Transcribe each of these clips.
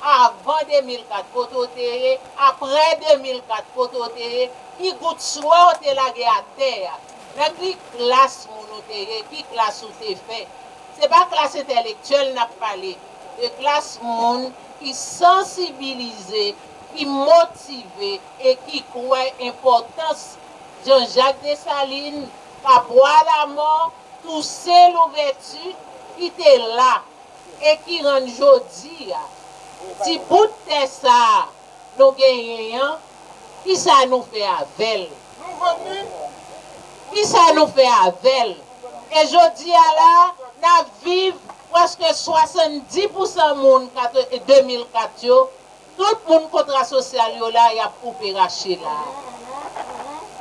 Avan 2004 kote w te ye, aprè 2004 kote w te ye, ki gout swe w te lage atè a, nan ki klas moun ou te ye, ki klas ou te fè. Se pa klas entèlektyèl n ap pale, de klas moun ki sansibilize, ki motive e ki kwè enpòtans Jean Jacques Dessalines, Capois Lamort, Toussaint Louverture ki te la, e ki rann jodi a, ti bout tè sa a nou genyen an, ki sa nou fè avè l? Nou vann li? Ki sa nou fè avè l? E jodi a la a, n ap viv, prèske 70 pousan moun 2004 yo, Tout moun kontra sosyal yo la yap koupe rache la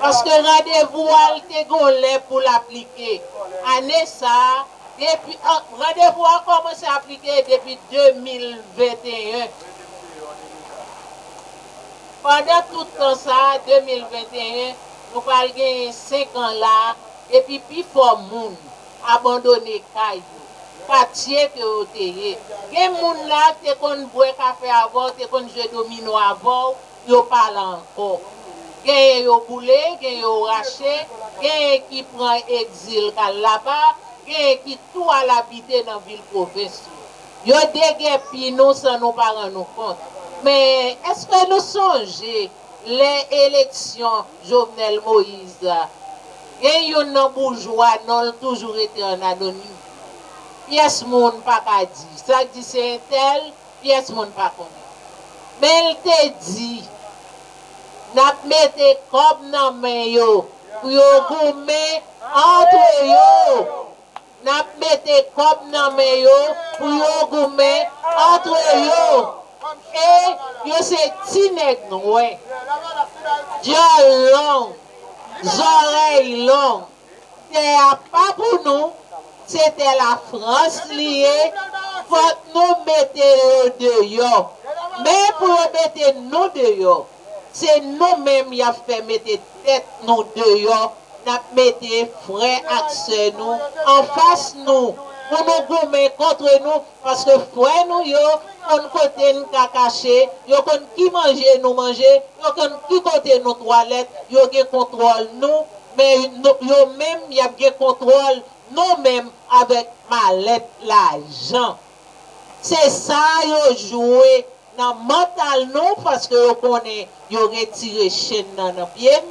paske randevou a l te gon lè pou l aplike ane sa depi randevou a kòmanse aplike depi 2021 pandan tout tan sa 2021 nou pral genyen 5 an la depi pifò moun abandone kay yo, katye ke yo te ye. Gen moun la k te konn bwè kafe avè w, te konn jwe domino avè w, yo pa la ankò. Genyen yo boule, genyen yo rache, genyen ki pran egzil k al laba, genyen ki tou al abite nan vil pwovens yo. Yo degèpi nou san nou pa rann nou kont. Men, èske nou sonje. lè eleksyon Jovenel Moïse la, gen youn nan boujwa non l toujou rete an anonim. Pyès moun pa ka di. Sa k di se entèl, pyès moun pa konnen. Men l te di, N ap mete kòb nan men yo pou yo goumen antre yo. Nap mete kòb nan men yo pou yo goumen antre yo e yo se ti nèg nwè dyòl long zòrèy long tè a pa pou nou se tè la frans li ye fòk nou mete yo deyò men pou yo mete nou deyò se nou menm yap fè mete tèt nou deyò n ap mete frè ak sè nou anfas nou pou nou goumen kont nou, paske frè nou yo konn kote n ka kache, yo konn ki manje nou manje, yo konn ki kote nou twalèt, yo gen kontwòl nou, men yo menm y ap gen kontwòl nou menm avèk malèt lajan. Se sa yo jwe nan mantal nou paske yo konnen yo retire chenn nan nan pye n,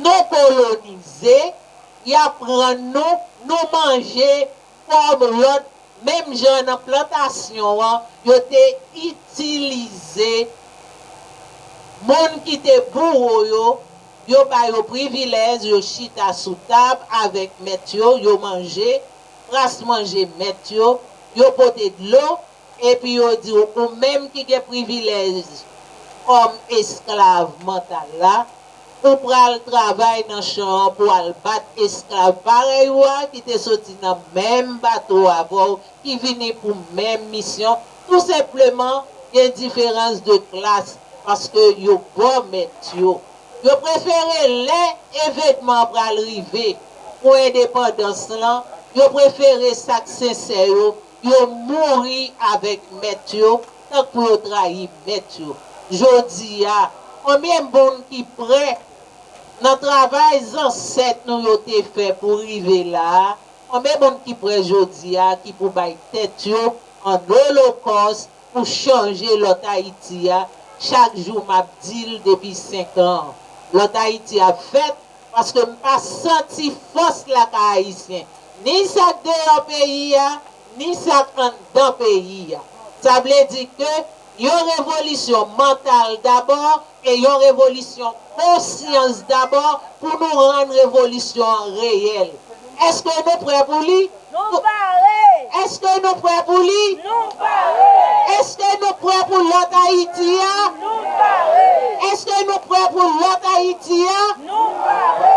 nou kolonize, y ap rann nou, nou manje kòm lòt menm jan nan plantasyon an yo te itilize moun ki te bouwo yo, yo ba yo privilèz, yo chita sou tab avèk mèt yo, yo manje. Kras manje mèt yo, yo pote dlo, epi yo di w, ou menm ki gen privilèj kòm esklav mantal la, ou pral travay nan chan an pou al bat esklav parèy ou a ki te soti nan menm bato avè w, ki vini pou menm misyon, tou senpleman gen diferans de klas paske yo bò mèt yo. Yo prefere lè evenman an pral rive pou endepandans lan, yo prefere sa k sensè yo, yo mouri avèk mèt yo tank pou yo trayi mèt yo. Jodi a, konbyen moun ki prè, nan travay zansèt nou yo te fè pou rive la a, konbyen moun ki prè jodi a ki pou bay tèt yo an olokòs, pou chanje lòt Ayiti a chak jou m ap di l depi 5 an lòt Ayiti ap fèt paske m pa santi fòs lakay Ayisyen ni sa k deyò peyi a ni sa k anndan peyi a sa vle di ke yon revolisyon mantal dabò E yon revolisyon konsyans dabò pou nou rann revolisyon an reyèl. Eske nou prè pou li? Nou pare! Eske nou prè pou li? Nou pare! Eske nou prè pou lòt Ayiti a? Nou pare! Eske nou prè pou lòt Ayiti a? Nou pare!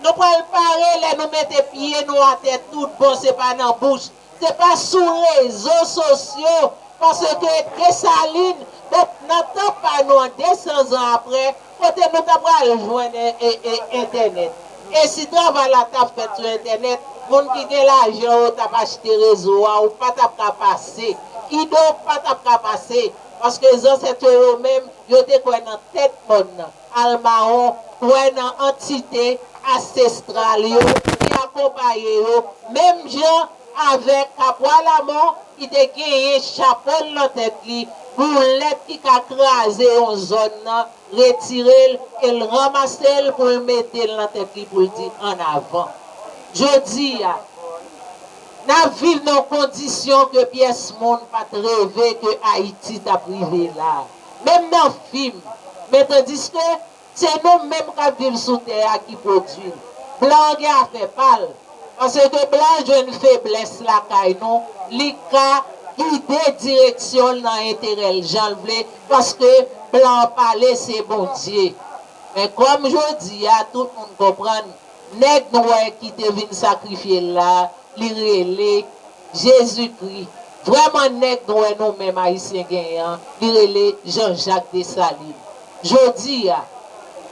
Nou pral pare lè nou mete pye nou atè tout bon se pa nan bouch. Se pa sou rezo sosyo paske Desalin met nan tan pa nou an 200 zan apre kote nou ta pral jwenn entènèt. E si travay la ta fèt sou entènèt, moun ki gen lajan yo tap achte rezo a ou pa tap ka pase. Kidonk pa tap ka pase paske zansèt yo yo menm yo te kwè nan tèt mòn nan. Almao kwè nan antite asestral yo ki akonpaye yo, menm jan avèk Kapwa Lamò ki te genyen chapo l nan tèt li, boulèt ki ka kraze yon zòn nan, retire l e l ranmase l pou l mete l nan tèt li pou l di an avan. Jodi a, n ap viv nan kondisyon ke pyès moun pa t reve ke Ayiti t ap rive la a. Menm nan fim, men tandiske se nou menm k ap viv sou tè a ki pwodui l. Blan an gen afè pa l, paske blan an jwenn feblès lakay nou, li ka gide direksyon l nan enterè l jan l vle, paske blan an pale se Bondye. Men kòm jodi a tout moun konprann nèg nwè ki te vin sakrifye l la, li rele. Jezi kri. Vrèman nèg nwè nou menm Ayisyen genyen an li rele Jean Jacques Dessalines. Jodi a,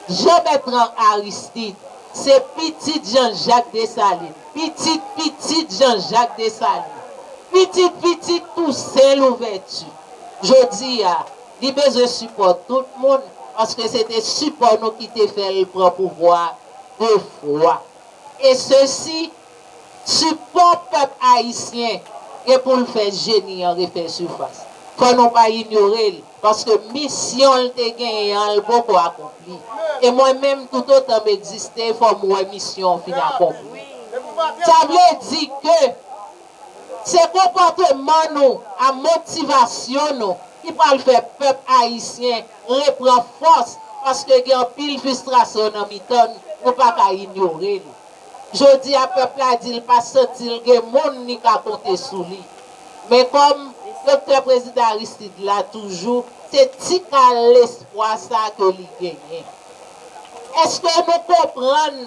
Jean Bertrand Aristide se pitit Jean Jacques Dessalines, pitit pitit Jean Jacques Dessalines, pitit pitit Toussaint Louverture. Jodi a, li bezwen sipò tout moun paske se te sipò nou ki te fè l pran pouvwa 2 fwa. E sesi. Sipò pèp ayisyen gen pou l fè jeni an refè sifas. Fò nou pa inyore l, paske misyon l te genyen an l poko akonpli. E mwen menm toutotan m egziste fò m wè misyon an fin akonpli. Sa vle di ke se konpòteman nou a motivasyon nou ki pral fè pèp ayisyen repran fòs paske gen anpil fistrasyon nan mitan n, nou pa ka inyore l. Jodi a pèp la di l pa santi l gen moun li ka konte sou li. Men kòm Doktè Prezidan Aristide la toujou, se ti kal lespwa sa ke li genyen. Eske nou konprann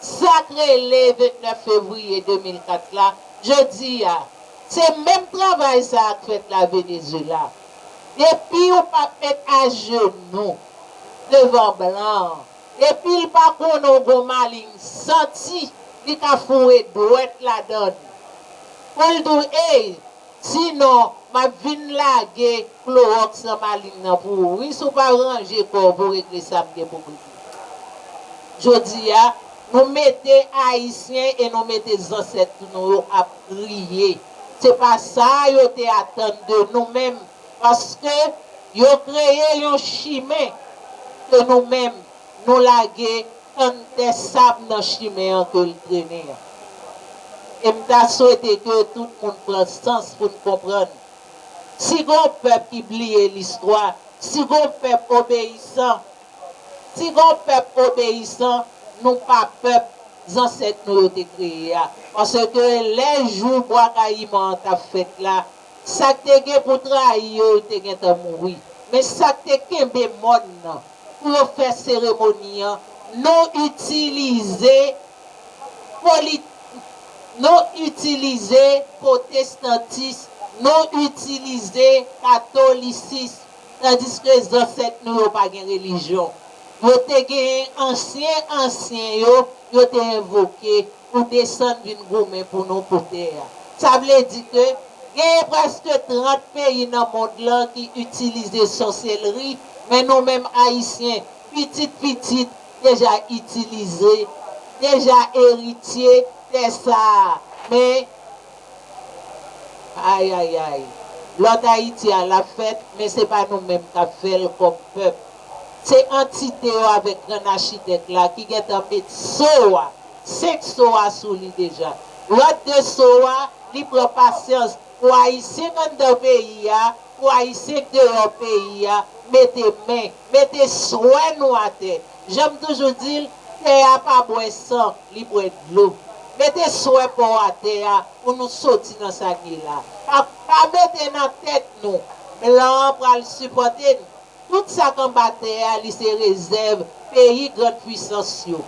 sa k rele 29 fevriye 2004 la? Jodi a, se menm travay sa a k fèt la Venezuela. Depi ou pa p met ajenou devan blan an, Epil pa bon non gon maling santi li ka foure dwèt ladann poul diw ey di non map vin lage klorox nan maling nan pou ou wi si w pa ranje kòw pou regle sam gen poum regle jodia nou mete ayisyen e nou mete zansèt nou yo ap kriye se pa sa yo te atann de nou menm Paske, yo kreye yon chimen ke nou menm nou lage tann tè sab nan chimen an ke l trennen an. E m ta swete ke tout moun pran sans pou n konprann, si gon pèp ki bliye listwa, si gon pèp obeyisan, si gon pèp obeyisan, nou pa pèp zansèt nou yo te kreye a. Paske, lè jou Bwa Kayiman an t ap fèt la, Sa k te gen pou trayi yo yo te gentan mouri. Men sa k te kenbe mòn nan pou yo fè seremoni an nou itilize polit nou itilize potestantis nou itilize katolisis tandiske zansèt nou yo pa gen relijyon yo te genyen ansyen ansyen yo yo te envoke pou desann vin goumen pou nou pou tè a. Sa vle di ke genyen prèske 30 peyi nan mond lan ki itilize sòselri, men nou menm Ayisyen, pitit pitit, deja itilize, deja eritye tè sa a. Men, ayayay, lòt Ayiti a l ap fèt, men se pa nou menm k ap fè l kòm pèp. Se antite yo avèk grann achitèk la ki gentan met so a, 5 so a sou li deja. Lòt 2 so a, li pran pasyans pou Ayisyen k anndan peyi a, pou Ayisyen k deyò peyi a, mete men, mete swè nou atè. Jan m toujou di l, tè a pa bwè san, li bwè dlo. Mete swè pa w atè a pou nou soti nan sa n ye la. Pa mete nan tèt nou, blan an pral sipòte nou. Tout sa k anba tè a li se rezèv peyi grand pwisans yo.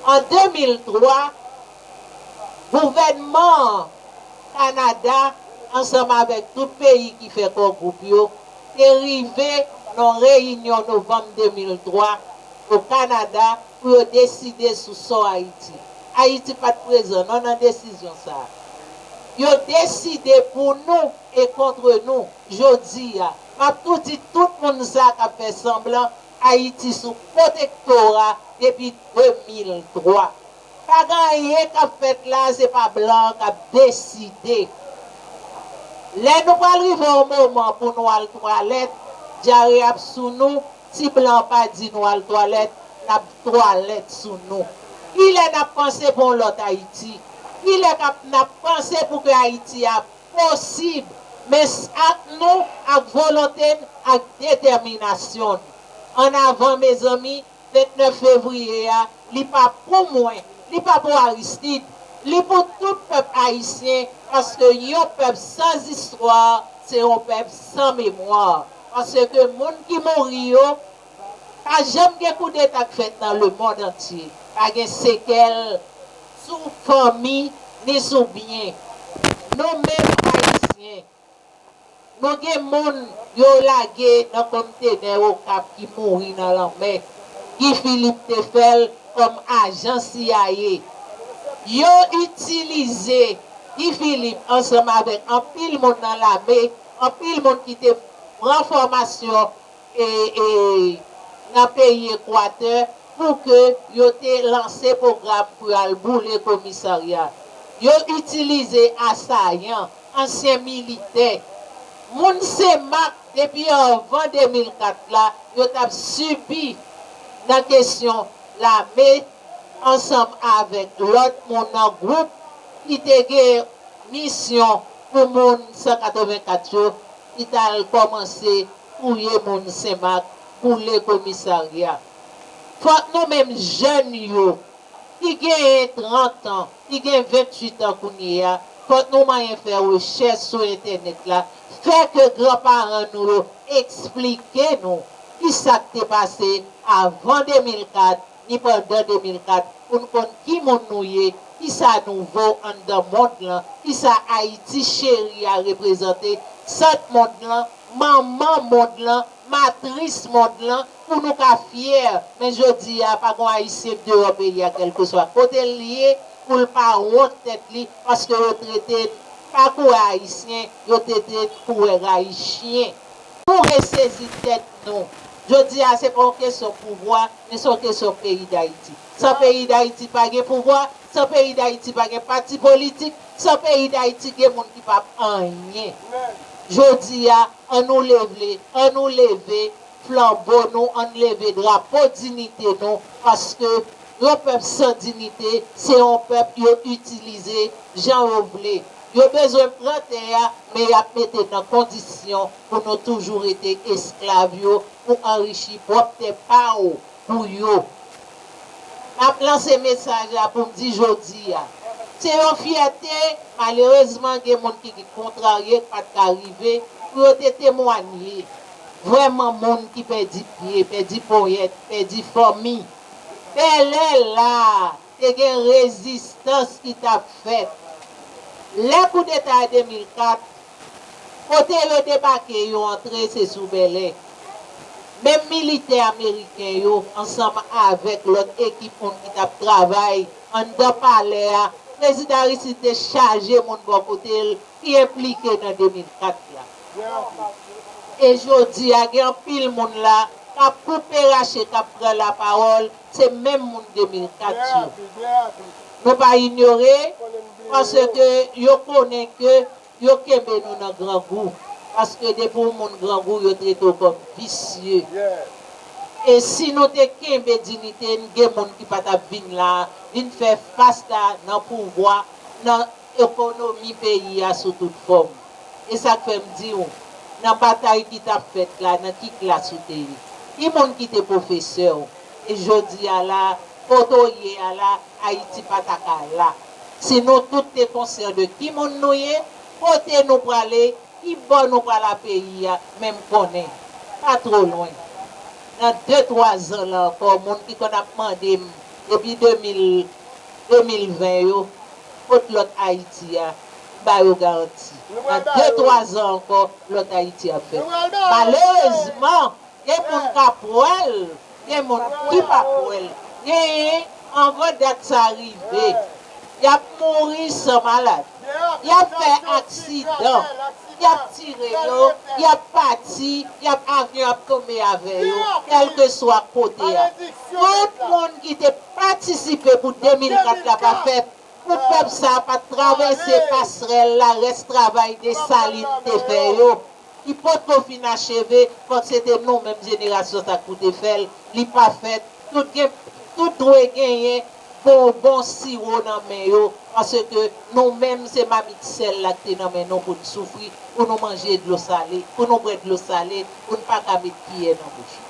An 2003, gouvènman an, Kanada ansanm avèk tout peyi ki fè Kò Gwoup yo, te rive nan yon reyinyon novanm 2003 o Kanada pou yo deside sou sò Ayiti. Ayiti pa t prezan non nan desizyon sa a. Yo deside pou nou e kontre nou jodi a. Map tou di tout moun sa kap fè sanblan Ayiti sou pwotektora depi 2003. Pa gen anyen kap fèt la se pa blan an kap deside. Lè nou pral rive yon moman pou nou al twalèt, dyare ap sou nou, ti blan an pa di nou al twalèt, lap twalèt sou nou. Kilè nap panse pou yon lòt Ayiti? Kilè kap nap panse pou ke Ayiti a Posib, men s ak nou, ak volonte n, ak detèminasyon n. An avan mezanmi, 29 fevriye a, li pa pou mwen, li pa pou Aristide, li pou tout pèp ayisyen, paske yon pèp san zistwa se yon pèp san memwa, paske moun ki mouri yo, Pa janm gen koudeta k fèt nan lemond antye pa gen sekèl sou fanmi ni sou byen nou menm Ayisyen. Nou gen moun yo lage nan komtenè Okap ki mouri nan lanmè. Guy Philippe te fè l kòm ajan cia. Yo itilize Guy Philippe ansanm avèk anpil moun nan lame, anpil moun ki te pran fòmasyon e e nan peyi Ekwatè pou ke yo te lanse pwogram pou yo al boule komisarya. Yo itilize asayan, ansyen militè. Moun Senmak depi anvan 2004 la yo tap sibi nan kesyon lame ansanm avèk lòt moun nan gwoup ki te gen misyon pou moun 184 yo ki tal kòmanse Touye moun senmak boule komisarya fòk nou menm jèn yo ki genyen 30 an ki gen 28 an kounyeya fòk nou manyen fè rechèch sou entènèt la fè ke gran paran nou yo eksplike nou kisak te pase avan 2004 ni pandan 2004 pou n konn ki moun nou ye, ki sa nou vo anndan mond lan, ki sa Ayiti cheri a reprezante, sant mond lan, manman mond lan, matris mond lan, pou nou ka fyè, men jodi a pa gon Ayisyen deyò peyi a kèlkeswa kote l ye pou l pa wont tèt li paske yo trete n pa kouwè Ayisyen, yo tete n kouwè rayi chyen. Nou resezi tèt nou. Jodi a se pa yon kesyon pouvwa, men se yon kesyon peyi Dayiti. San peyi Dayiti pa gen pouvwa, san peyi Dayiti pa gen pati politik, san peyi Dayiti gen moun ki pap anyen. Jodi a, an nou levle, an nou leve flanbo nou, an n leve drapo dinite nou, paske yon pèp san dinite, se yon pèp yo itilize jan yo vle. Yo bezwen pran tè a men yap mete nan kondisyon pou nou toujou rete esklav yo pou anrichi pwòp tè pa ou pou yo. Map lanse mesaj la pou m di jodi a, se yon fyète, malerezman gen moun ki ki kontrarye k pat ka rive pou yo te temwanye vrèman moun ki pèdi pye, pèdi ponyèt, pèdi fanmi. Bèlè la! Te gen rezistans ki t ap fèt. Lè koudeta 2004, kote yo debake yo antre se sou Bèlè. Menm militè ameriken yo ansanm avèk lòt ekip moun ki t ap travay anndan palè a, Prezidan Aristide te chaje moun bò kote l ki enplike nan 2004 la. E jodi a gen anpil moun la k ap koupe rache k ap pran lapawòl se menm moun 2004 yo. Nou pa inyore paske yo konnen ke yo kenbe nou nan grangou paske depi w moun grangou yo trete w kòm visye. E si nou te kenbe dinite n gen moun ki pa t ap vin la vin fè fas la nan pouvwa nan ekonomi peyi a sou tout fòm. E sa k fè m di w, nan batay ki t ap fèt la, nan ki klas ou te ye? Ki moun ki te pwofesè w? E jodi a la a, kote w ye a la a, Ayiti pa ta ka la, si nou tout te konsyan de ki moun nou ye, kote nou prale, ki bò nou pral a peyi a, men m konnen, pa twò lwen, nan de twa zan la ankò, moun ki konn ap mande m depi 2000, 2020 yo, kot lòt Ayiti a, m ba yo garanti, nan de twa zan ankò, lòt Ayiti ap fèt. Malerezman, gen moun k ap wè l, gen moun ki p ap wè l. Genyen, anvan dat sa rive, y ap mouri san malad, y ap fè aksidan, y ap tire yo, y ap pati, y ap avyon ap tonbe avè yo, kèlkeswa kote a. Fòk moun ki te patisipe pou 2004 la pa fèt, pou pèp sa a pa travèse pasrèl la rès travay Dessalines te fè yo, ki potko fin acheve, fòk se te nou menm jenerasyon sa k pou te fè l, li pa fèt, tout gen, tout dwe genyen Fè yon bon siwo nan men yo, paske nou menm se mamit sèl la ki te nan men nou pou n soufri, pou nou manje dlo sale, pou nou bwè dlo sale, pou n pa ka met kiyè nan bouch nou.